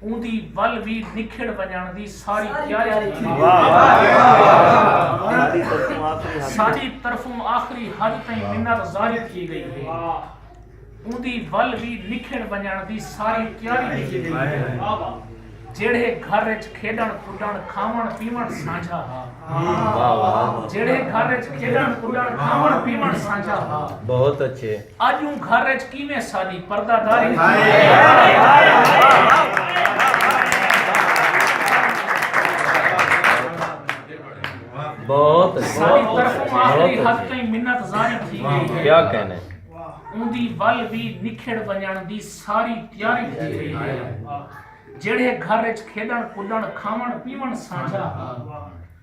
اوندی ول وی نکھڑ ونجنڑ دی ساری تیاری کیتی گئی ساڈی طرفوں آخری حد تائیں منت زاری تھی گئی ہے اوندی ول وی نکھڑ ونجنڑ دی ساری تیاری کیتی گئی ہے جیڑھے گھر وچ کھیڈن کڈن کھاون پیون سانجھا ہا جیڑھے گھر وچ کھیڈن کڈن کھاون پیون سانجھا ہا بہت اچھے اج اوں گھر اچ کیویں ساڈی پردہ داری ساڈی طرف آخری حد تئیں منت زاری تھی گئی ہے اوندی ول وی نکھڑ ونجن دی ساری تیاری تھی گئی ہے جیڑھے گھر اچ کھیڈن کڈن کھاون پیون سانجھا ہا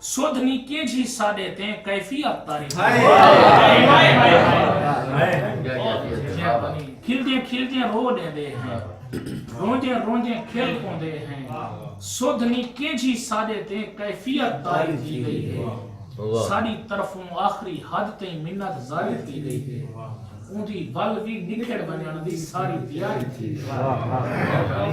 سدھ نی کیجھی ساڈے تے کیفی افطاری کھلدیں کھلدیں رو ڈیندے ہیں روندیں روندیں کھل پوندے ہیں سدھ نی کیجھی ساڈے تے کیفی افطاری تھی گئی ہے ساڈی طرفوں آخری حد تے منت زاری تھی گئی ہے اوندی ول وی نکھڑ ونجن دی ساری تیاری تھی گئی ہے